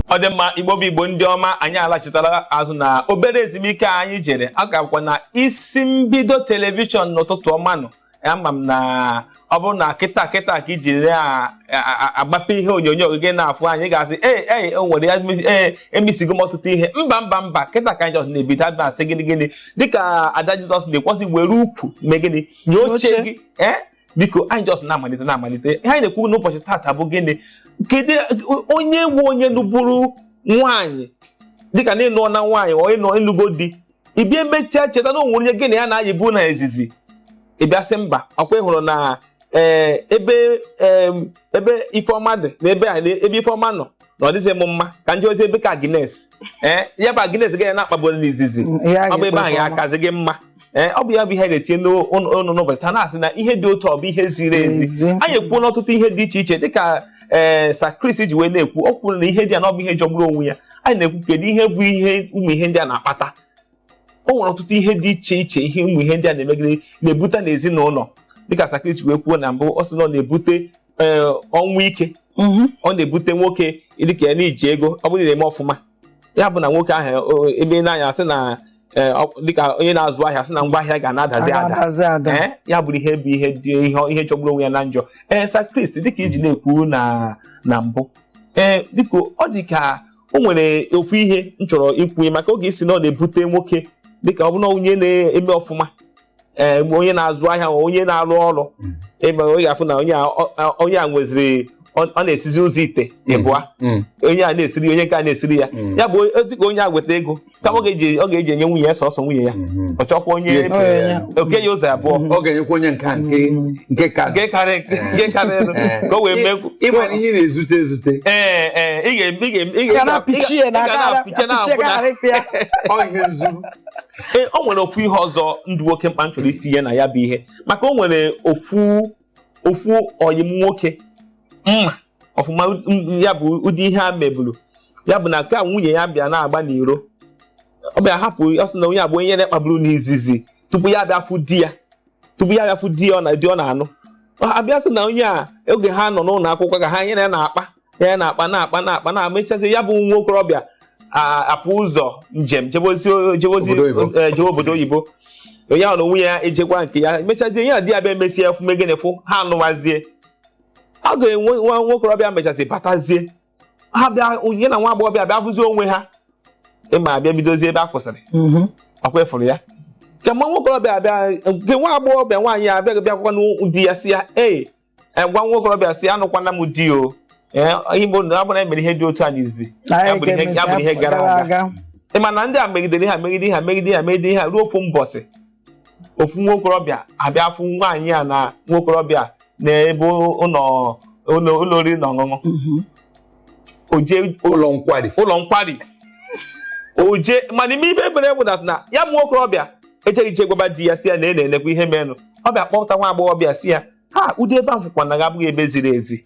ọ dị mma igbo bụ igbo ndị ọma anyị alachitala azụ na obere ezumike anyị jere a gakwa na isi mbido telivishọn n'ụtụtụ ọma nọ ama m na ọ bụrụ na kịta kịta ka iji na-agbape ihe onyonyo gị na-afụ anyị ga-asị ee ee o nwere ya ee emisigo m ọtụtụ ihe mba mba mba kịta ka anyị jọs na-ebido anyị na-asị gịnị gịnị dịka ada jizọs na-ekwu sị were ukwu mee gịnị nye oche gị ee biko anyị just na-amalite na-amalite ihe anyị na-ekwu n'ụbọchị tata bụ gịnị kedu onye nwe onye lụburu nwaanyị dịka na ị nụọna nwaanyị ọ ịnọ ị nụgo di ị bịa emechaa cheta na o nwere onye gị na ya na-ayịbu na izizi ị bịa sị mba ọkwa ị hụrụ na eh, ebe eh, ebe ifeọma dị na ebe ebe ifeọma nọ na ọ dịghị m mma ka m jezie ebe ka Agnes ee ya bụ Agnes gị na ya na-akpaburu n'izizi ọ bụ ebe ahụ ya akazi gị mma ee ọ bụ ya bụ ihe na-etinye ọnụ n'ụbọchị taa na-asị na ihe dị otu ọ bụ ihe ziri ezi anyị ekwuona ọtụtụ ihe dị iche iche dịka ee sa Chris ji wee na-ekwu ọ kwuru na ihe ndị a na ọ bụ ihe jọgburu onwe ya anyị na-ekwu kedu ihe bụ ihe ụmụ ihe ndị a na-akpata o nwere ọtụtụ ihe dị iche iche ihe ụmụ ihe ndị a na-emegide na-ebute n'ezinụlọ dịka sa Chris ji wee kwuo na mbụ ọ sị na ọ na-ebute ee ọnwụ ike Mhm. ọ na-ebute nwoke dịka ya n'iji ego ọ bụrụ na ị na-eme ọfụma ya bụ na nwoke ahụ o- ebe ị na-anya sị na ee, ọ- dịka onye na-azụ ahịa sị na ngwa ahịa ga na-adazi ada adazi ada. Ee, ya bụrụ ihe bụ ihe dị ihe ihe jọgburu onwe ya na njọ ee sa Chris dịka i ji na-ekwu na na mbụ ee biko ọ dị ka o nwere ofu ihe m chọrọ ikwunye maka oge ị sị na ọ na-ebute nwoke dịka ọ bụrụ na onye na-eme ọfụma ee eh, onye na-azụ ahịa onye na-arụ ọrụ mm. ị ma onye ga-afụ na onye a nweziri ọ na-esizi ụzọ ite mm. ịbụa mm. onye a na-esiri onye nke a na-esiri ya ya bụ dịka onye a weta ego kama ọ ga-eji enye nwunye ya sọsọ nwunye ya mm-hmm. ọ chọkwa onye o kee ya ụzọ abụọ ọ ga-enyekwa onye nke nke karịrị eh. ka o wee eh. mee ị ma na ihe na-ezute ezute ee ee ị ga-apịchie na ọ ihe nzu ee o nwere ofu ihe ọzọ dị oke mkpa m chọrọ itinye na ya bụ ihe maka o nwere ofu ofu ọyị m nwoke m ma ọfụma m- ya bụ ụdị ihe a meburu ya bụ na ka nwunye ya bịa na-agba n'iro ọ bịa hapụ ọ sị na onye a bụ onye na-akpaburu n'izizi tupu ya bịa fụ di ya tupu ya bịa fụ di ya ọ na di ọ na-anụ a bịa sị na onye a oge ha nọ n'ụlọ akwụkwọ ka ha ya na ya na-akpa ya na-akpa na-akpa na-akpa na mechazi ya bụ nwa okorobịa apụ ụzọ njem jebozi jewe obodo oyibo onye ahụ na onwe ya ejekwa nke ya mechazie ya na di ya bịa emesịa fụ mee gịnị fụ ha anụwazie oge nwa nwokorobịa mechazi batazie ha bịa onye na nwa agbọghọbịa bịa fụzie onwe ha ị ma ha abịa bidozie ebe ha kwụsịrị mm-hmm. ọkwa ị fụrụ ya kemgbe nwokorobịa abịa nke nwa agbọghọbịa nwaanyị abịaghị bịakwakwa n'ụdị ya si ya ee e, gwa nwa okorobịa si anụkwana m di o e, ihe bụ na abụna emere ihe dị otu a n'izizi ya bụrụ ihe gara aga ị ma na ndị a megidere ha megide ha megide ha megide ha ruo ofu mbọsị ofu nwa okorobịa abịa afụ nwaanyị a na nwa okorobịa n'ebe ụlọ oriri na ọṅụṅụ mhm. oje ụlọ nkwari ụlọ nkwari oje mana ime ife ebere bụ na ya bụ nwokorobịa ejeghị eje gwaba di ya si ya na e na-enekwa ihe merenụ ọ bịa kpọpụta nwa agbọghọbịa si ya na ụdị ebe ahụ fụkwa na gị abụghị ebe ziri ezi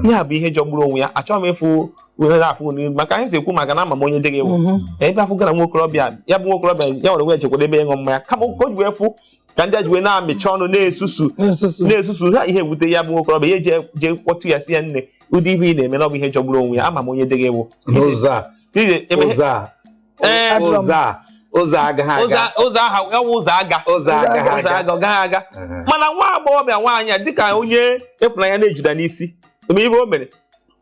ihe a bụ ihe jọgburu onwe ya achọghị m ịfụ uhere afụ n'ihu maka anyị ekwu maka na ama m onye di gị wụ ebe afụ gara nwa okorobịa ya bụ nwa okorobịa ya nwa onwe ya jekwara ebe ịṅụ mmanya kama o ji wee fụ ka ndị a ji wee na-amịcha ọnụ na-esusu na-esusu ha ihe ewute ya bụ nwokorobịa ya jee kpọtụ ya si ya nne ụdị ihe ị na-eme na ọ bụ ihe jọgburu onwe ya ama m onye di gị wụ ụzọ aga ọ gaghị aga mana nwa agbọghọbịa nwaanyị a dịka onye ịfụnanya na-ejuda n'isi eme ihe o mere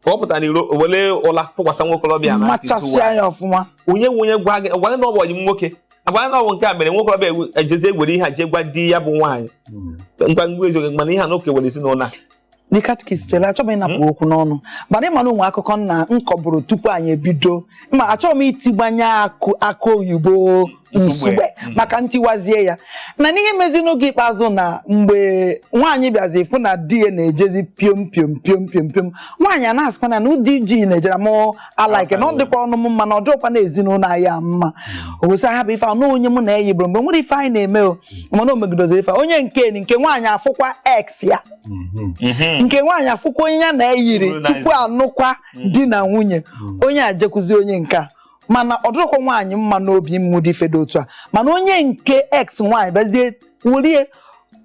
ka ọ pụta n'iro were ụla tụkwasị nwokorobịa na machasịa ya ọfụma onye nwe onye gwa gị gwa gị na ọ bụ ọyị m nwoke agwa na ọ bụ nke a mere nwokorobịa ejezi egwere ihe a jee gwa di ya bụ nwaanyị hmm. ngwa ngwa eziokwu mana ihe a na oke were ezinụlọ a ndị katikist chere achọghị m ịnapụ hmm? okwu n'ọnụ mana ịma na o nwe akụkọ nna m kọbụrụ tupu anyị ebido ma achọghị m itigbanye akụ oyibo Nsugbe mm. maka ntiwazie ya na n'ihe mezi n'oge ikpeazụ na mgbe nwaanyị bịazi fụ na di ya na-ejezi piom piom piom piom piom nwaanyị a na-asịkwa na ụdị ji na-ejere m alaike na ọ dịkwa ọnụ m mma na ọ dịkwa na ezinụlọ anyị a mma mm. ogosi ha bụ ife na onye mụ na ya yibụrụ mgbe nwere ife anyị na-eme o mm. mana o megidoziri ife onye nke nke nwaanyị afụkwa ex ya mm-hmm. Mm-hmm. nke nwaanyị afụkwa onye ya na ya yiri tupu anụkwa di na nwunye onye a jekwuzi onye nke a mana ọ dịrọkwa nwaanyị mma n'obi n'ụdị ife dị otu a mana onye nke ex nwaanyị bịazie wulie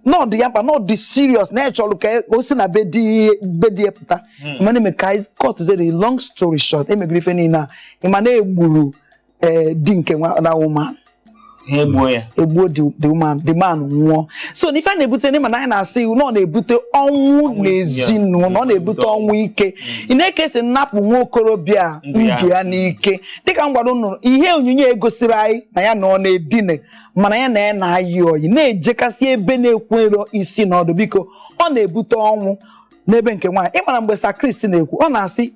na ọ dị ya mkpa na ọ dị serious na ya chọrọ ka o si na be di be di ya pụta mana eme ka anyị cut the long story short emegoro ife niile a ịma na egburu eh, di nke nwa na woman ha egbuo ya egbuo the the woman the man nwụọ so na ife a na-ebute n'ịma na anyị na-asị na ọ na-ebute ọnwụ Ọnwụ ike, n'ezinụlọ ọ na-ebute ya. ọnwụ ike ị nee ka e si napụ nwa okorobịa a Ndụ ya. ndụ ya n'ike dịka m gwara unu ihe onyinyo egosiri anyị na ya na ọ na-edine mana ya na ya na-ayị ọyị na-ejekasị ebe na-enwero isi na ọdụ biko ọ na-ebute ọnwụ n'ebe nke nwaanyị ịmara mgbe sa kristi na-ekwu ọ na-asị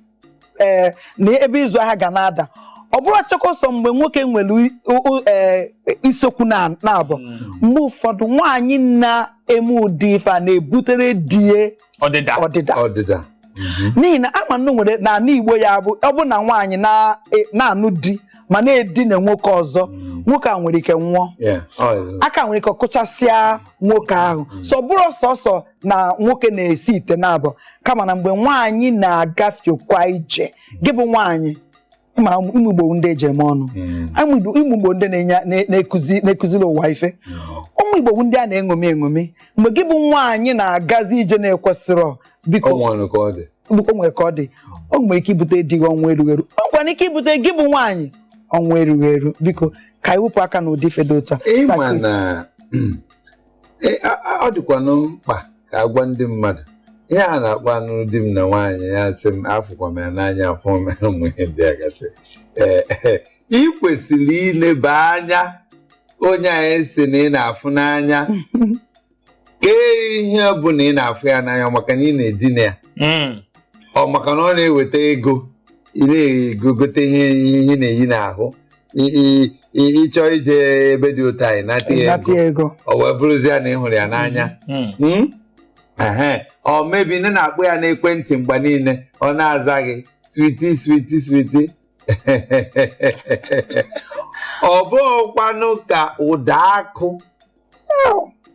ee na ebe ịzụ ahịa ga na-ada ọ bụrọchakwa sọ mgbe nwoke nwere i- o- o- ee, isekwu naabọ mgbe ụfọdụ nwaanyị na-eme ụdị ife a na-ebutere di ya ọdịda ọdịda ọdịda n'ihi na ama nnu nwere n'ala Igbo ya bụ ọ bụ na nwaanyị na- e- na-anụ di ma na-edina nwoke ọzọ nwoke a nwere ike nwụọ Yeah, ọ dị. aka nwere ike kụchasịa nwoke ahụ so ọ bụrọ sọsọ na nwoke na-esi ite naabọ kama na mgbe nwaanyị na-agafekwa ije gị bụ nwaanyị ma ụmụ Igbo ndị e ji eme ọnụ ụmụ hmm. Igbo ndị na-ekuziri ụwa ife hmm. ụmụ Igbo ndị a na-eṅomi eṅomi mgbe gị bụ nwaanyị na-agazi ije na-ekwesịrọ biko o nwe ka ọ dị o nwere ike ibute di gị ọnwụ erughị eru o nwere ike ibute gị bụ nwaanyị ọnwụ erughị eru biko ka anyị wepụ aka n'ụdị ife dị otu a E, a- a- ọ dịkwanụ mkpa ka a gwa ndị mmadụ ihe a na-akpọ anụ di m na nwaanyị ya sị m afụkwa m ya n'anya afụ m ya ụmụ ihe ndị a gasị ee ee, ị kwesịrị ileba anya onye a ị sị na ị na-afụ n'anya kee ihe ọ bụ na ị na-afụ ya n'anya ọ maka na ị na-edina ya Mm. ọ maka na ọ na-eweta ego ị na-egogote ihe ihe ị na-eyi n'ahụ ị chọọ ije ebe dị otu a ị nata ego o wee bụrụzie na ị hụrụ ya n'anya hmm. Hmm? or maybe na ị na-akpọ ya n'ekwentị mgbe niile ọ na-aza gị sweetie sweetie sweetie ọ bụghịkwanụ ka ụda akụ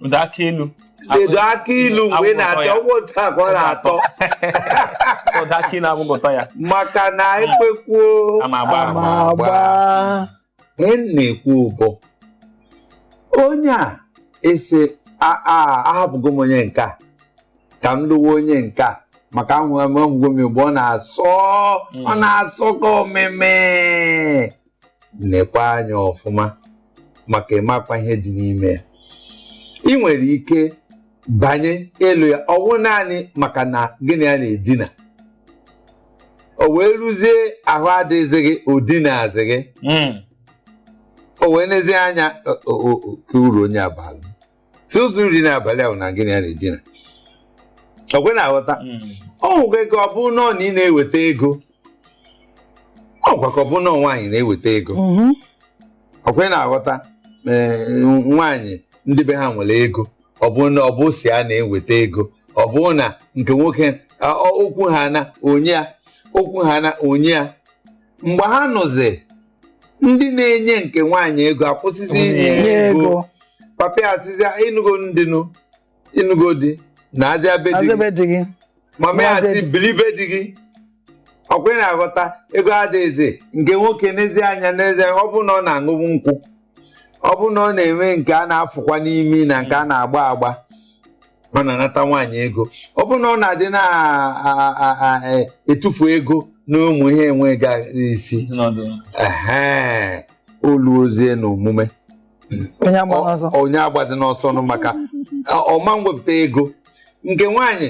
ụda akị ilu edo akị ilu mgbe ị na-ata ya bụ otu a ka ọ na-atọ ụda akị ilu abụghị ụtọ ya maka na ekwekwuo ama agba ama agba ihe m na-ekwu bụ onye a ị sị a- a- ahapụgo m onye nke a ka m lụwa onye nke a maka ahụ ahụgo m mgbe ọ na-asọ ọ na-asọ ka omeme nekwa anya ọfụma maka ị makwa ihe dị n'ime ya ị nwere ike banye ịlụ ya ọ wụ naanị maka na gị na ya na-edina o wee ruzie ahụ adịghịzị gị o dinazighị hmm. o wee nezie anya kee uru onye a baalụ sọsọ uru dị n'abalị ahụ na gị na ya na-edina ọkwa ị na-aghọta o nwekwa ike ọ bụ na ọ na ị na-eweta ego o nwekwa ike ọ bụ na ọ nwaanyị na-eweta ego ọkwa ị na-aghọta ee, nwaanyị ndị be ha nwere ego ọ bụ na ọ bụ si a na-eweta ego ọ bụ na nke nwoke a, ọ- ọkwa ha na-enye ya ọkwa ha na-enye ya mgbe ha nọzi ndị na-enye nke nwaanyị ego akwụsịzi inye ego papa ya asịzịa ị nụgo di nụ ị nụgo di naazịa be di gị mama ya asị bili be di gị ọkwa ị na-aghọta ego adịghịzi nke nwoke enezie anya nezie ọ bụ na ọ na-aṅụbu nkwụ ọ bụ na ọ na-enwe nke a na-afụkwa n'imi na nke a na-agba agba ọ na-anata nwaanyị ego ọ bụrụ na ọ na-adị na-etufu e, ego na ụmụ ihe enweghị isi o luozie na omume onye agbazi n'ọsọ nụ maka ọ ma nwepụta ego nke nwaanyị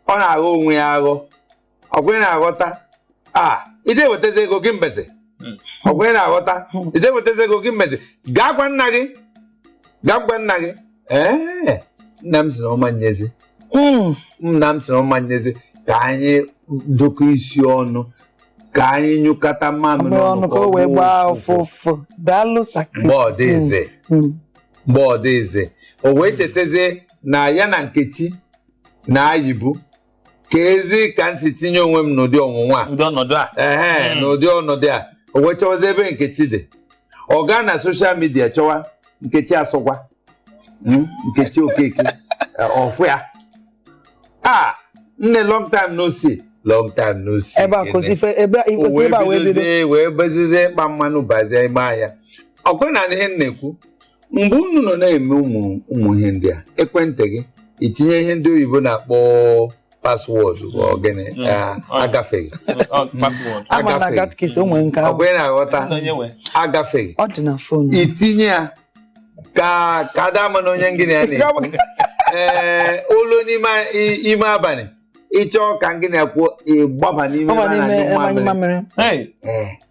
ọ na-aghọ onwe ya aghọ ọkwa ị na-aghọta a ide wetazi ego gị mbeze hmm. ọkwa ị na-aghọta hmm. ide wetazi ego gị mbeze gaa gwa nna gị gaa gwa nna gị ee nna m sịrị ọ ma nyezi hmm. nna m sịrị ọ ma nyezi ka anyị dụkọ isi ọnụ ka anyị nyụkọta mamịrị ọnụ ka o wee gbaa ụfụfụ daalụ sakristi mgbe ọ dịzi mgbe ọ dịzi o wee chetazie na ya na nkechi na-ayịbu keezi ka m si tinye onwe m n'ụdị ọnwụnwa a ụdị ọnọdụ a ehe Mm. n'ụdị ọnọdụ a o wee chọwazi ebe nkechi dị ọ gaa na soshal midia chọwa nkechi asọgwa Mm, nkechi okeke eh, ọ fụ ya a nne long time no see long time no see ebe a Gịnị? kwụsị ife ebe a O ikwesị wee ebe a wee bido bidozie wee bezizie ịkpa mmanụ bazie ime ahịa ọkwa ị na-anụ ihe m na-ekwu mgbe unu nọ na-eme ụmụ ụmụ ihe ndị a ekwentị gị ị tinye ihe ndị oyibo na-akpọ paswọọdụ bụ ogene Mm. ah, Oh. agafeghị Ọ, password. ama na Agafeghị. gatkis o nwere nke ọ ahụ bụ ị na-aghọta Sị na onye nwe. agafeghị ọ dị na fon ị tinye ya ka ka a da ama na onye gị na ya na-ekwu ee olu n'ime i- ime abalị ị chọọ ka gị na ya kwuo ị gbaba n'ime ọ ebe a na-anyụ mamịrị Hey, Ee.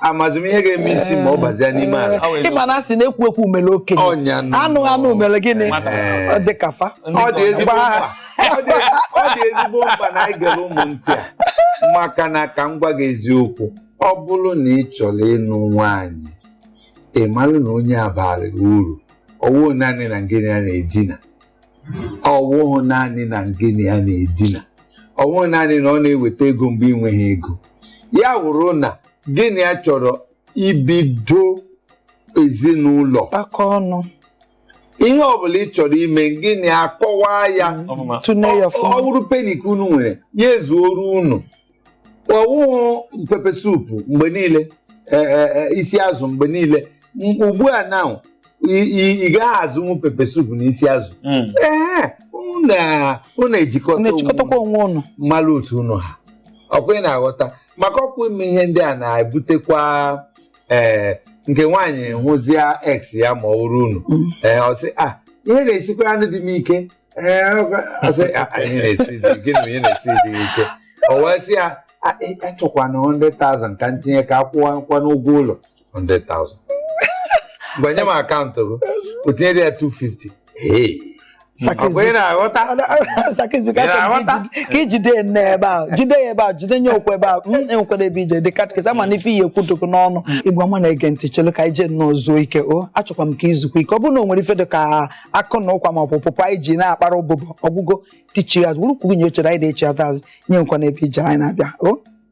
amazị m ihe ga-eme isi ma ọ bazia n'ime ala Ọ wee ị ma na a sị na ekwu ekwu mere okenye Ọnya nụ. anụ anụ mere gịnị Ee. Ọ dị ka fa ọ dị ezigbo Gbaa. mkpa Ọ dị- ọ dị ezigbo mkpa na anyị gere ụmụ ntị a maka na ka m gwa gị eziokwu ọ bụrụ na ị chọrọ ịnụ nwaanyị ị mara na onye a baara ị uru ọwụghị naanị na gị na ya na-edina ọwụghị naanị na gị na ya na-edina ọwụghị naanị na ọ na-eweta ego mgbe ị nweghị ego ya wụrụ na gị na ya chọrọ ibido ezinụlọ kpakọ ọnụ ihe ọbụla ị chọrọ ime gị na ya kọwaa ya ọfụma tụne ya ọ ọfụma bụrụ peni ka unu nwere ya ezuoru unu ọwụghị pepe supu mgbe niile e, e, e, isi azụ mgbe niile M- ugbu a na ị- ị ị gaghị azụnwu pepe supu na isi azụ Mm. ee unu na- unu Unu ejikọta onwe echịkọtakwa onwe unu malụ otu unu ha ọkwa ị na-aghọta maka ọkwa ime ihe ndị a na-ebutekwa ee nke nwaanyị hụzia ex ya ma ọ wụrụ unu Mm. ee ọ sị ah ihe na-esikwaranụ di m ike gịnị na-esi dị ike o wee sị ya achọkwana 100,000 ka m tinye ka a kwụwa nkwa n'ụgwọ ụlọ 100,000 gbanye m akaụntụ gị o tinyere ya 250 na-aghọta ka i jide ya nne ebe ahụ jide ya ebe ahụ jide nye okwu ebe ahụ enwekwara ebe ije dị katkis ama na ife ihe ekwudogo n'ọnụ igwe ọma na-ege ntị chelu ka anyị je nnọọ zuo ike o achọkwa m ka i zukwa ike ọ bụrụ na o nwere ife dị ka akụ na ụkwa maọbụ pụpụ anyị ji na-akpara ụbụbọ ọ gwụgo tichi azụ wụrụkwuo nye chere anyị na-echiata azụ ejekwana ebe eje anyị na-abịa o